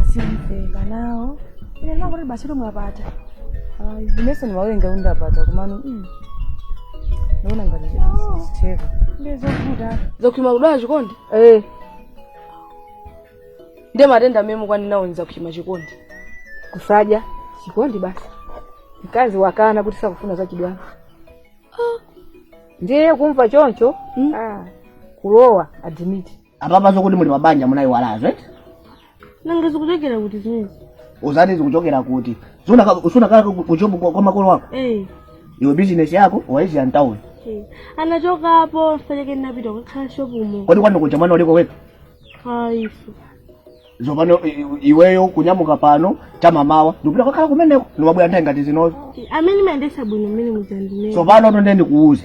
asimveka nawo ine ndinangoti basi kuti mwapata ayi inenso ndimawerenga kuti ndapata komano mm, ndaona ngati zitheka ndiye zovuta zakumtima kudwala chikondi eh ndiye matenda amene mukwani nawo ni zakumtima chikondi kusadya chikondi basi mkazi wakana kuti sakufuna zachibwana ndiye kumva choncho ah, kulowa adimiti apapa zokuti muli pabanja munayiwalazo eti nanga zikuchokera kuti zimenezi uzati zikuchokera kuti Sunaka- sunakala ku- kujobu kwa kwa makolo wako Eh, iwe bizinesi yako waisiya mtawuni eh. anachokapo mfachake ndinapita kukhala shopumo kodi kwanu kuja mwana uliko wekha aifu zopano i- i- iweyo kunyamuka pano chamamawa ndikupita kwakhala kumeneko ndimabwera nthawi ngati zinozo amene mayendesa bwino mmene mudzandimene zopano tonde ndikuuze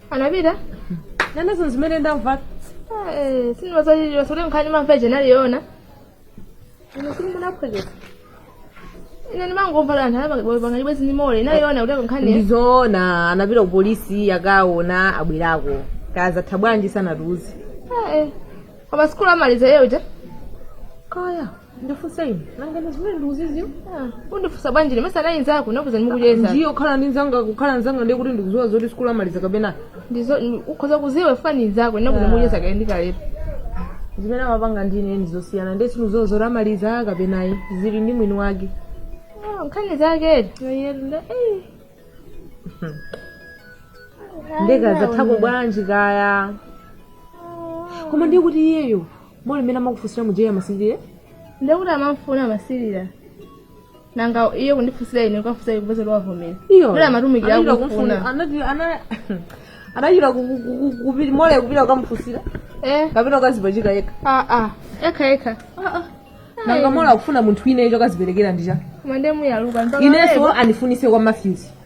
anapita nanenso zimene ndamva sindimazachichira zoti nkhani mamva ija inali yoona ino sili munaphwekesa ine ndimangomva kuti anthu anapanga chibwenzi ndi mole inali yoona kutheka nkhani ndizoona anapita ku polisi akaona abwerako kazatha bwanji sanatiuze koma sikulu amaliza yeuja kaya ndifunse ine nanga ndi zimene ndikuziziwa undifunsa bwanji ine mesa nayi nzako nakuza ndimukuyeza ndiyo khala ndi nzanga kukhala nzanga ndiye kuti ndikuziwa zoti sikulu amaliza kapena ndizo ukhoza kuziwa ifa ndi nzako nakuza ndimukuyeza kale ndikalepo zimene amapanga ndi ine ndizosiyana ndiye sindikuziwa zoti amaliza kapena ayi zili ndi mwini wake Ah, nkhani zake yoyenda nde kazathako bwanji kaya koma ndiye kuti iyeyo Mole mmene amakufunsira muja iye amasilira? Ndiye kuti amamfuna amasilira. Nanga iye kundifunsira ine kukafunsira iye kupeza kuti wavomera. Iyo. Kuti amatumikira Anachita kumfuna. kumfuna- anati- ana- Anachita ku- ku- ku- ku- kupi- mole kupita kukamufunsira Eh, kapena ukazipachika yekha. ah, ah. Ekha ekha. Nanga mole akufuna munthu wina icho akaziperekera ndicha. Koma ndiye muyaluka. Mpaka Inenso andifunise kwa Matthews.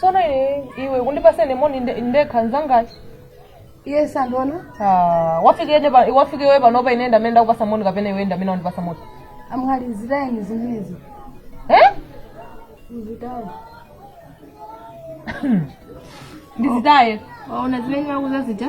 sono iwe iwe kundipasa ine moni nde- ndekha nzangacho iye sandiona Ah, wafika ine pa- wafika iwe panopa ine ndamene ndakupasa moni kapena iwe ndamene wandipasa moni amwali zitayeni zimenezi eh? uzitawo ndizitaye waona zimene makuuza zija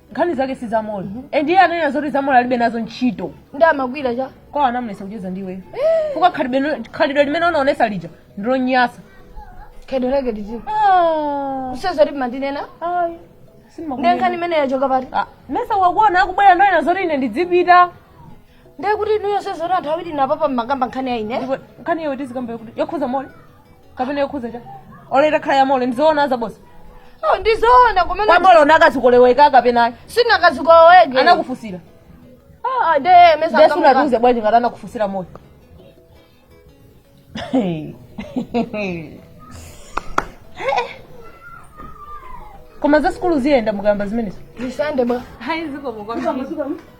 nkhani zake si za mole and iye ananena zoti za mole alibe nazo ntchito ndi amagwira cha kwa anamulesa kucheza ndiwe fuka khalidwe khalidwe limene unaonesa lija ndilonyasa khalidwe lake liti useza kuti mandinena ndi nkhani imene yachoka pati mesa wakuona akubwera ndoyena zoti ine ndidzipita ndiye kuti inuyo sezoti anthu awiri apapa mmakamba nkhani ya ine nkhani iyo tizikambe kuti yokhuza mole kapena yokhuza cha olo itakhala ya mole ndi zoona zabodza Oh, ndi zoona kumene kwa mole unakazikoloweka kapenayo sinakazikoloweke anakufusira Ah, nde mesa ndesu akamuka. anatiuza bwanji ngati anakufusira moyo koma za sikulu ziyenda mukayamba zimenezo Ndisende bwa hayi zikomo kwambiri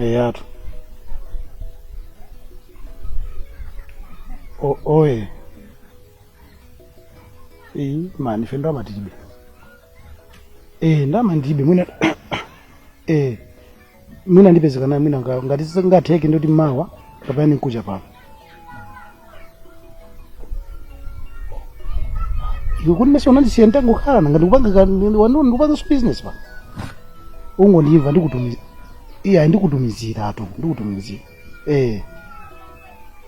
eyatu O- oye eyi amayi ife ndalama tilibe e ndalama ndilibe mwina e mwina ndipeze kena mwina nga- ngati zingatheke nduti mawa kapena ndi nkuja pano iwe kuti mesa unandisiya nditangokhala nanga ndikupanga ka- ndi- wanu- ndikupanga so business pa ungondimva ndikutumiza iya ndikutumizira atu ndikutumizira eh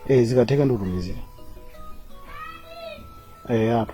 eh zikatheka ndikutumizira eh atu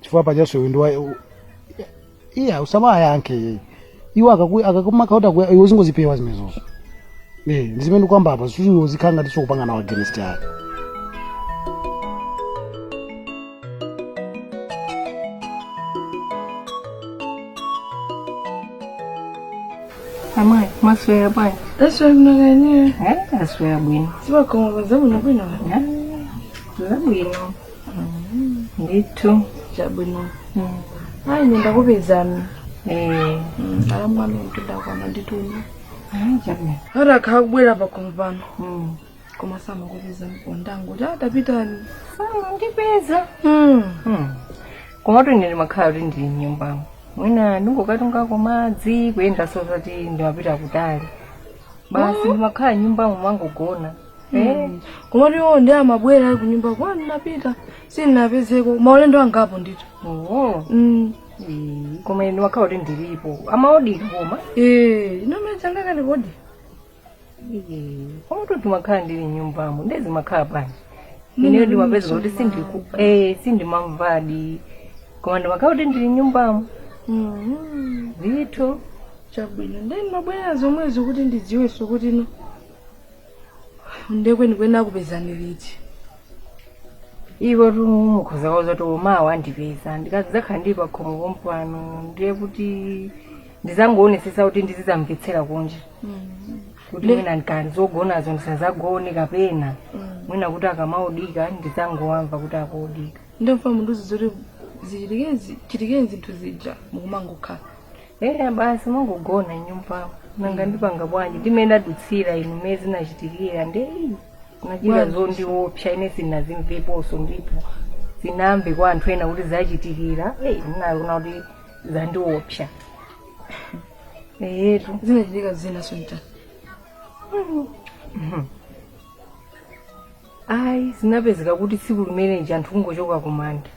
chifukwa pachaso iwe ndiwa iya usamayankhe iyeyi iwo akaku- akakumaka kuti akuya- iwe uzingozipewa zimenezozo Eh, ndi zimene nkukamba apa zisuti iwe uzikhala ngati sukupanga nawo against ake Amai, mwaswera bwanji. Aswera kunoko? Eh, aswera bwino. Siwa kwa mwanzo mwana bwanji. Za bwino. ndithu chabwino ayi nde ndakupezani eh alamwami ndithu akhala andituma ah, chabwino ati akhala kubwera pakhomo pano Mm. koma samakupeza mpondangoti ntapitadi samandipeza Mm. komatu ine ndimakhala kuti ndili mnyumbamo mwina ndingokatungako madzi kuyenda osati ndimapita kutali basi ndimakhala nyumbamo mmangogona Eh, komatu iwo nde amabwera ali kunyumba kwanu ndapita sindinapezeko maulendo angapo ndithu oho Mm. Eh, koma ine makhala kuti ndilipo amaodika koma Eh, nomwe changa kali kodi koma kuti makhala ndili nyumbamo nde zimakhala bwanji ineyo ndimapeza kuti sindiku eh sindimamvadi koma ndimakhala kuti ndili nyumbamo Mm. ndithu chabwino nde nimabwera zomwezo kuti ndidziwenso kuti no nde kwenikweni akupezani liti iwo mukhoza kuwauza kuti mmawa andipeza ndikazakhala ndili pa khomo pompano ndiye kuti ndizangoonetsetsa kuti ndizizamvetsera kunja kuti Le- mwina ndikanzogonazo ndisazagone kapena mwina kuti akamaodika ndizangowamva kuti akuodika nde mfuna munduze zoti zichitike zichitikedi zinthu zija nkumangokhala eya basi mangogona nyumba nanga ndipanga bwanji ndi mmene ndadutsira inu mmene zinachitikira nde anachita zondiopsa ine sinazimveponso ndipo sindinamve kwa anthu ena kuti zachitikira eyi ndinaona kuti zandiopsa eyetu zinachitika zina sonta ayi zinapezeka kuti tsiku limenelija anthu kungochoka kumanda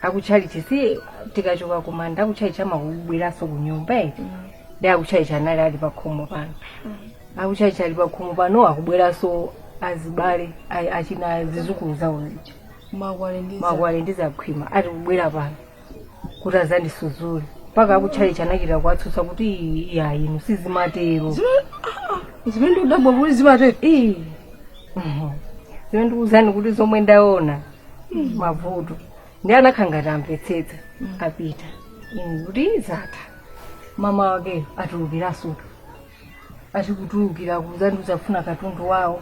akutchalitchi si tikachoka kumanda akutchalitchi amabweranso kunyumba eh? nde akutchalitchi anali ali pakhomo pano akutchalitchi ali pakhomo pano akubweranso azibale a- achina zizukulu zawo zija makhwale ndi za- makhwale ndi zakhwima ati kubwera pano kuti azandisudzule mpaka akutchalitchi anachita kuwatsutsa kuti "Ii, iyayi inu sizimatero zimene ndikudabwa kuti zimatero Ii. Mhm. zimene ndikuwuzani kuti zomwe ndaona mavuto nde anakhala ngati amvetsetsa apita inu kuti zatha mama wakeyo atulukiranso achikutulukira kuzandiuza kufuna katundu wawo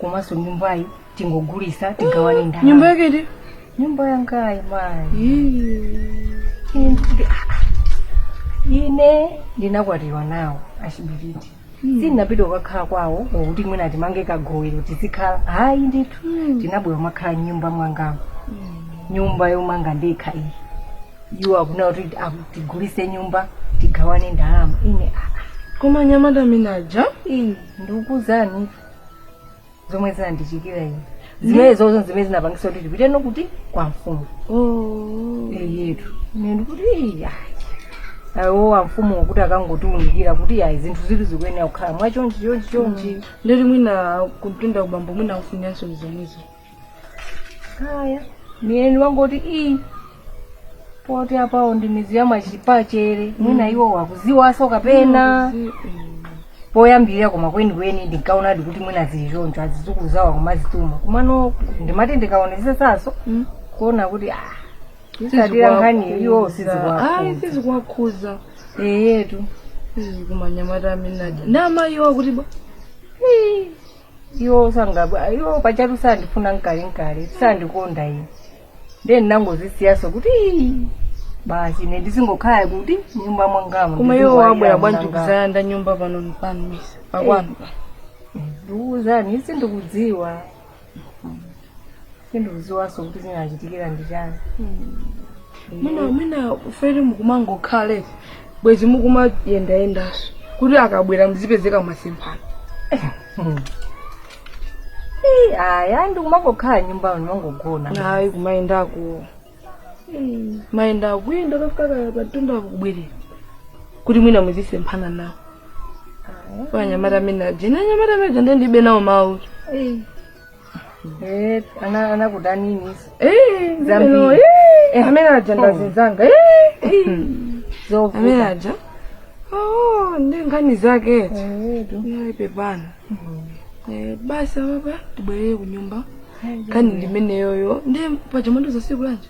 komanso nyumbayi tingogulitsa tigawane ndalama nyumba yake iti nyumba yangayi mayi ine ndinakwatiwa nawo achibiriti sindinapita kukakhala kwawo kokuti mwina timange kagowero tizikhala ayi ndithu anabwera kumakhala nyumba mwangamo nyumba yomanga ndekha iyi iwo akufuna kuti aku- tigulitse nyumba tigawane ndalama ine aa koma anyamata amene aja iyi ndikuzani zomwe zinandichitikira ine zimene zomwezo zimene zinapangitsa kuti tipite nkuti kwa amfumu oh. eyetu ine ndikuti iyi ayi awo amfumu kuti akangotiunikira kuti ayi zinthu izi zikuyenera kukhala mwachonchi chonchi chonchi nde kuti mwina kumtunda ubambo mwina akufunanso zomwezo kaya eni angoti ii poti apawo ndi midzi ya machipachere mwina iwo akudziwanso kapena poyambirira koma kwenikweni ndinkaonadi kuti mwina zili choncho azizukulu zawo akumazituma kumano ndimati ndikaonetsetsanso Mm. kuona kuti ah, ikatsatira nkhani iwo ayi sizikuwafunza sizikuwakhuza eyetu koma anyamata amene aja namaiwala kuti bwa iwo sangabwa iwo pachatu sandifuna nkale nkale sandikonda ine ndiye ndinangozisiyanso kuti "Ii, basi ine ndizingokhala kuti nyumba mwangamo koma iwo abwera bwanji kuzalanda nyumba pano mpano si pakwanu ndikuuzani sindikudziwa sindikudziwanso kuti zinachitikira ndi chani mwina mwina m'fere mukumangokhala bwezi mukumayendayendanso kuti akabwera muzipezeka mwasemphana Ii, ayi ayi ndikumangokhala m'nyumba muno kumangogona ayi kumayendako kumayenda kuyenda kukafika patunda kubwerera kuti mwina muzisemphana nawo anyamata amene aja ine anyamata amene aja ndiye ndilibe nawo mawu Eh, ana anakudaninso Eh, Zambiri. no, eh, eh, amene aja ndazinzanga eh, eh. amene zovuta aja oh, ndi nkhani zake eti nde pepani Eh, basi apapa tibwerere ku nyumba nkhani ndimeneyoyo nde paja mwandiuza tsiku lanji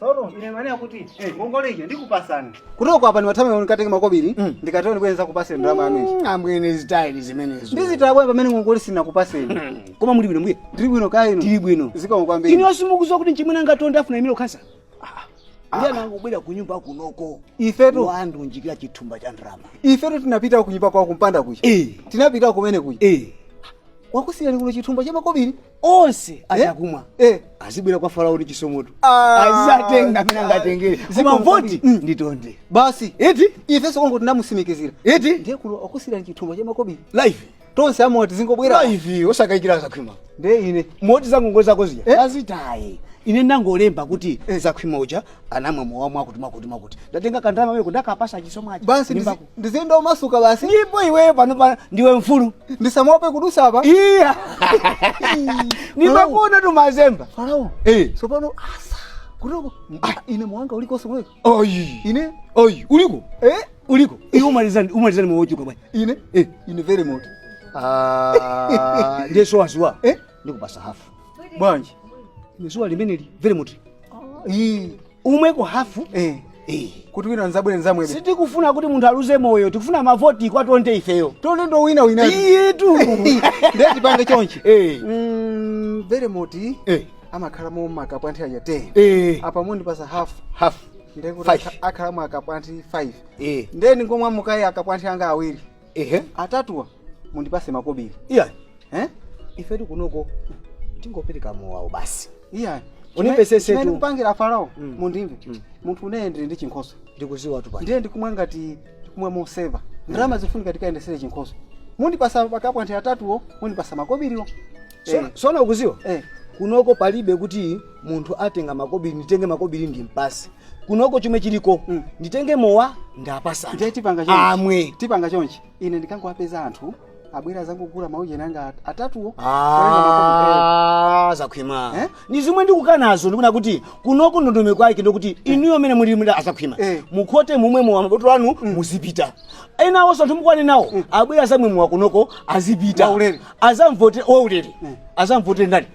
Soro, ine maana kuti eh ngongole ija ndikupasani. Kuchoka apa niwatame unikatenge makobiri Mm. ndikatero ndikuyenza kupatsira ndalama yanu ichi. ambwene zitayeni zimenezo Ndizidabwa pamene ngongole sinakupaseni. Mm, koma muli bwino mbuye Ndiri bwino kaya inu. tili bwino Zikomo kwambiri. inu simukuziwa kuti mchimwene anga Tonde afuna aimire ukhansala ndiye anangobwera ku nyumba kunoko Ifetu watiunjikira chithumba cha ndalama ifetu tinapita kunyumba kwake kumpanda kuja. Eh. Tinapita kumene kuja. Eh. Wakusiyirani kuno chithumba cha makobiri. onse achakumwa eh azibwera kwa farao ndi Chisomotu Ah. azatenga amene angatengere Koma izi mavoti mm. ndi a Tonde basi eti ifenso kongo tinamusimikizira eti ndiye kuno akusiirani chithumba cha makobiri live tonse amowa tizingobwera live osakayikira zakhwima ndiye ine moti zangongole zako zija Eh? azitaye ine ndangolemba kuti zakhwima uja anamwa mowa mwakuti mwakuti mwakuti ndatenga kandalama kameneko ndakapasa chisomo aja basi Ndimbako. ndiziyenda omasuka basi ndipo iweyo panopa ndiwe mfulu usamaope kudusa apa iya ndimakuona tu umazemba farao Eh. tsopano asa kunoko ine mowa wanga ulikonso kunoko oyi ine oyi uliko eh uliko inu mumamwa zanji mumamwa zanji mochuluka bwana ine Eh. ine Velemoti Ah, ndiye sukuziwa eh ndikupasa hafu bwanji ine sowa limeneli Velemoti ii umweko hafu eh. Eh. kuti wina azabwere azamwebe sitikufuna kuti munthu aluze moyo tikufuna mavoti kwa tonde ifeyo tonde ndi wowinawina eyetu ndiye tipange chonchi eh. mm, Velemoti eh. amakhala mowa wa kapwanthi aja 10 eh. apa mundipasa half half ndekuti akhala mowa wa kapwanthi 5 eh. nde ndingomwamo kaye akapwanthi anga awiri ehe atatuwo mundipase makobiri iya eh ifetu kunoko tingopereka mowawo basi iya Undimvesese Chimene tu. ndikupangira farao Mm. mundimve Mm. munthu ineyo ndili ndi chinkhoswe ndikuziwa tu pano ndiye ndikumwa ngati kumwa moseva ndalama zifunika tikayendesere chinkhoswe mundipasa pa kapwanthi atatuwo mundipasa makobiriwo so, Eh, tsono ukuziwa eh. kunoko palibe kuti munthu atenga makobiri nditenge makobiri ndimpatse kunoko chomwe chiliko nditenge mowa ndapasa ndiye tipanga chonchi amwe tipanga chonchi ine ndikangowapeza anthu abwera azangokugula maujeni anga at- atatuwo kulenga makobiri, eh. Ah, zakhwima Eh? ni zomwe ndikukanazo ndikuna kuti kunoko ndondomeko kwake ndikuti inuyo amene muli Azakhwima Eh. mukhote mumwe mowa mabotolo anu muzipita enawonso anthu mukumane nawo abwere azamwe mowa kunoko azipita Waulere. azamwe waulere azamvotere ndani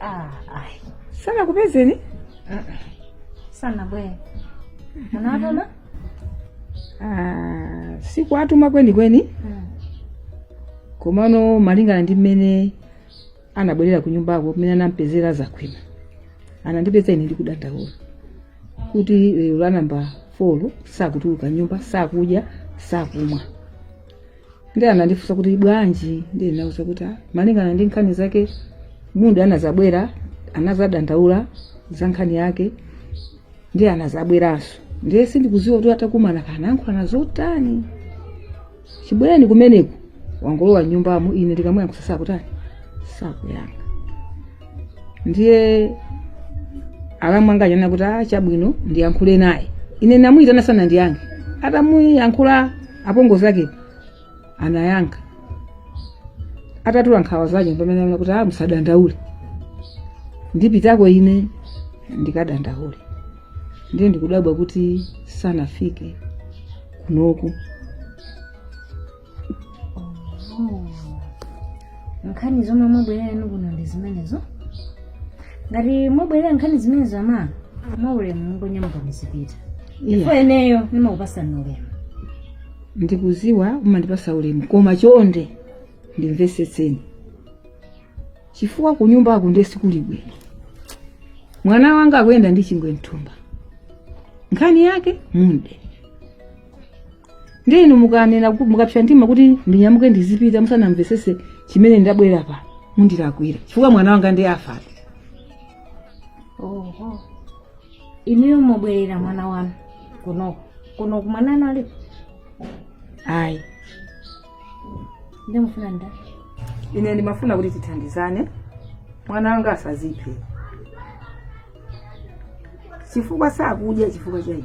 Ah, ayi. sanakupezeni Sanabwere. Munawatuma? Ah, sikuatuma kwenikweni Mm. komano malingana ndi mmene anabwerera ku nyumbako mmene anampezera zakhwima anandipeza ine ndikudandaula kuti lero la nambala 4 sakutuluka nyumba sakudya sakumwa ndiye anandifunsa kuti bwanji ndiye ndinawauza kuti "Ah, malingana ndi nkhani zake muda anazabwera anazadandaula za nkhani yake ndiye anazabweranso ndiye sindikuziwa kuti atakumana anayankhulana zotani chibwerereni kumeneko wangolowa nyumbamo ine ndikamuyankhusa sakutani sakuyankha ndiye alamu angawa anati a chabwino ndiyankhule naye ine ndamuyitana sanandiyankhe atamuyankhula apongozi ake anayankha atatula nkhawa zake pamene anati kuti ah musadandaule ndipitako ine ndikadandaule ndiye ndikudabwa kuti sanafike kunoko nkhani zomwe mwabwerera inu kuno ndi zimenezo ngati mwabwerera nkhani zimenezo ama mwaulemu mungonyamuka muzipita ndipo ineyo ndimakupasani ulemu ndikuziwa umandipasa ulemu koma chonde ndimvesetseni chifukwa kunyumbako ndiye sikuli bwino mwana wanga akuyenda ndi chingwe mthumba nkhani yake munde ndiye inu mukanena ku- mukapsa mtima kuti ndinyamuke ndizipita musanamvesese chimene ndabwerera pa mundilakwira chifukwa mwana wanga ndiye afa oho inuyo mwabwerera mwana wanu kunoko kuno mwana wanu alipo ayi ndimufuna nda ine ndimafuna kuti tithandizane mwana wanga asaziphe chifukwa sakudya chifukwa cha iwe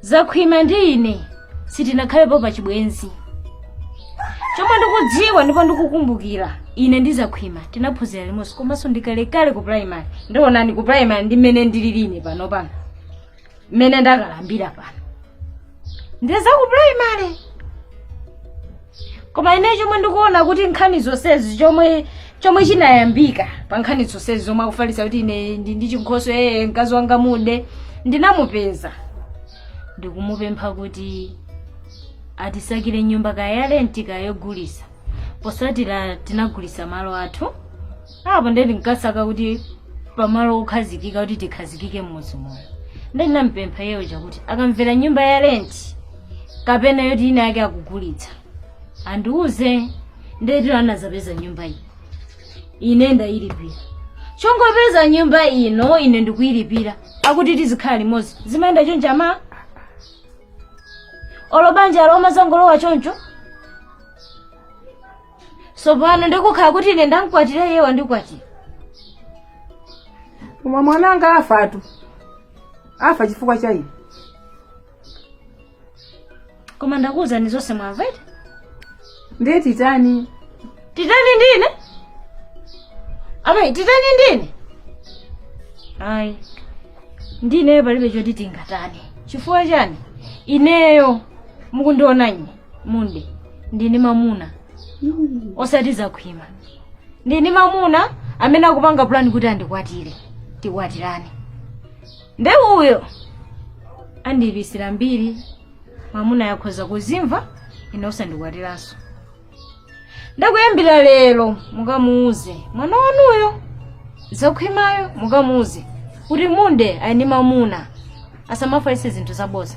zakhwima ndi ine sitinakhalepo pa chibwenzi chomwe ndikudziwa ndipo ndikukumbukira ine ndi zakhwima tinaphunzira limodzi komanso ndikalekale ku primary ndionani ku primary ndi mmene ndilili ine panopano mmene ndakalambira pano ndiye za ku primary koma ine chomwe ndikuona kuti nkhani zonsezi chomwe chomwe chinayambika pa nkhani zonsezi zomwe akufalitsa kuti ine ndi ndi chinkhoswe mkazi wanga Munde ndinamupeza ndikumupempha kuti atisakire nyumba kaya ya renti kaya yogulisa posatira tinagulisa malo athu apo ndikasaka kuti pamalo okhazikika kuti tikhazikike m'mudzi muno nde ndinampempha iyeyo choti akamvera nyumba ya renti kapena yoti ina yake akugulitsa andiuze nde anazapeza nyumba iyi ine ndayilipira chongopeza nyumba ino ine ndikuyilipira akuti tizikhala limodzi zimayenda choncho ama olo banja lomwe zangolowa choncho tsopano ndikukhala kuti ine ndamkwatire iye wandikwatire koma mwananga afatu afa chifukwa cha ine koma ndakuwuzani zonse mwamva iti ndiye titani titani ndine amayi titani ndine ayi ndineyo palibe choti tingatani chifukwa chani ineyo mukundiona ine Munde ndili ndi mamuna osati Zakhwima ndili ndi mamuna amene akupanga pulani kuti andikwatire tikwatirane nde uyo andiipitsira mbiri mamuna akhoza kuzimva ine osandikwatiranso ndakuyambira lero mukamuuze mwana wanuyo Zakhwimayo mukamuuze kuti Munde ali ndi mamuna asamafalitse zinthu zaboza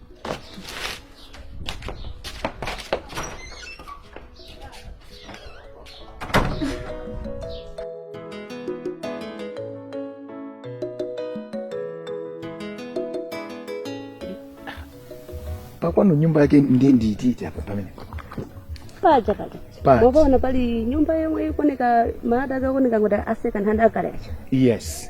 pakwanu nyumba yake ndiye ndiitite apa pamene paja paja Paja. wakaona pali nyumba yomwe ikuoneka malata akaoneka kuti a second hand akale acha yes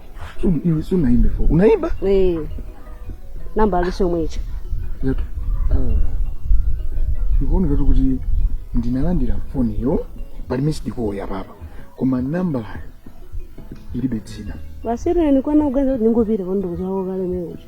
Iwe si unaimba foni. Unaimba? Eh. Namba aliso mwecha. Yetu. Ndikuona kuti kuti ndinalandira foni yo pali missed call ya baba. Koma namba ilibe dzina. Basiri ni kwana uganza ningopita kondo kuzawo kale mwecha.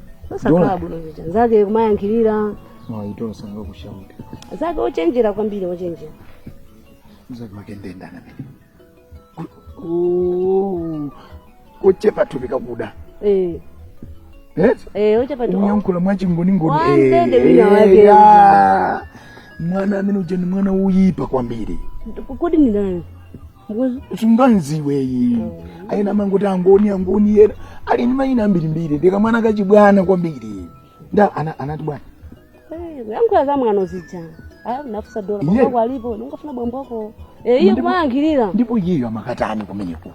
osakhala bwino zija zake kumayankhirira mawayitolo sanga kushauta zake ochenjera kwambiri ochenjera zake makendendana kochepa thupi kakuda Eh, Eh? eh, ochepa thupi kuyankhula mwachingoningoni Wanzende wina wake. mwana amene uja ni mwana woyipa kwambiri kodi ndinani usunganziweyi ayena mangoti angoni angoni ena ali ndi mayina ambirimbiri ndi kamwana kachibwana kwambiri nda ana- anati bwana Eh, kuyankhula za mwano zija Ah, anafunsa dola Iye. bambo ako alipo ndikufuna bambo ako Eh, iye Ndipo- kumangirira ndipo iyeyo amakatani kumeneko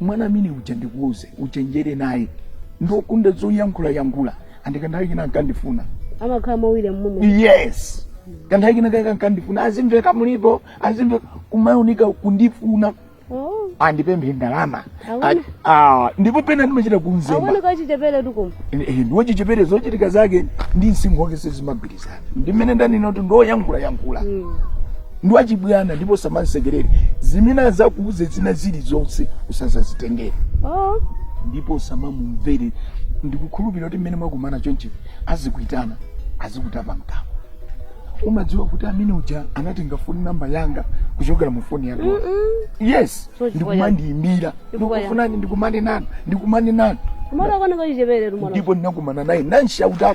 mwana amene uja ndikuuze uchenjere naye ndi okonda zoyankhula yankhula andi kanthawi kena ankandifuna amakhala mawire mmumemo yes kanthawi kena aka- akandifuna azimveka mulipo azimveka kumaoneka kundifuna Oh, andipemphe ndalama Awona. Ati- ah, ndipo pena ndimachita kumzemba aoneka achicheperetu kumva ndi wochichepere zochitika zake ndi msinkhu wake sizimagwirizana ndi mmene ndanena kuti ndi oyankhulayankhula ndi wachibwana ndipo usamamsekerere zimene azakuuze zina zili zonse usazazitengere Oh. ndipo usamamumvere ndikukhulupirira kuti mmene mwakumana choncho azikuitana azikutapa mkamwa umadziwa kuti amene uja anatenga foni namba yanga kuchokera mu foni yake yes So chifukwa ndikumandiyimbira Chifukwa ya- ndikukufunani ndikumane nanu ndikumane nanu Mwana kamwana kachicheperetu mwana. ndipo ndinakumana naye namshauta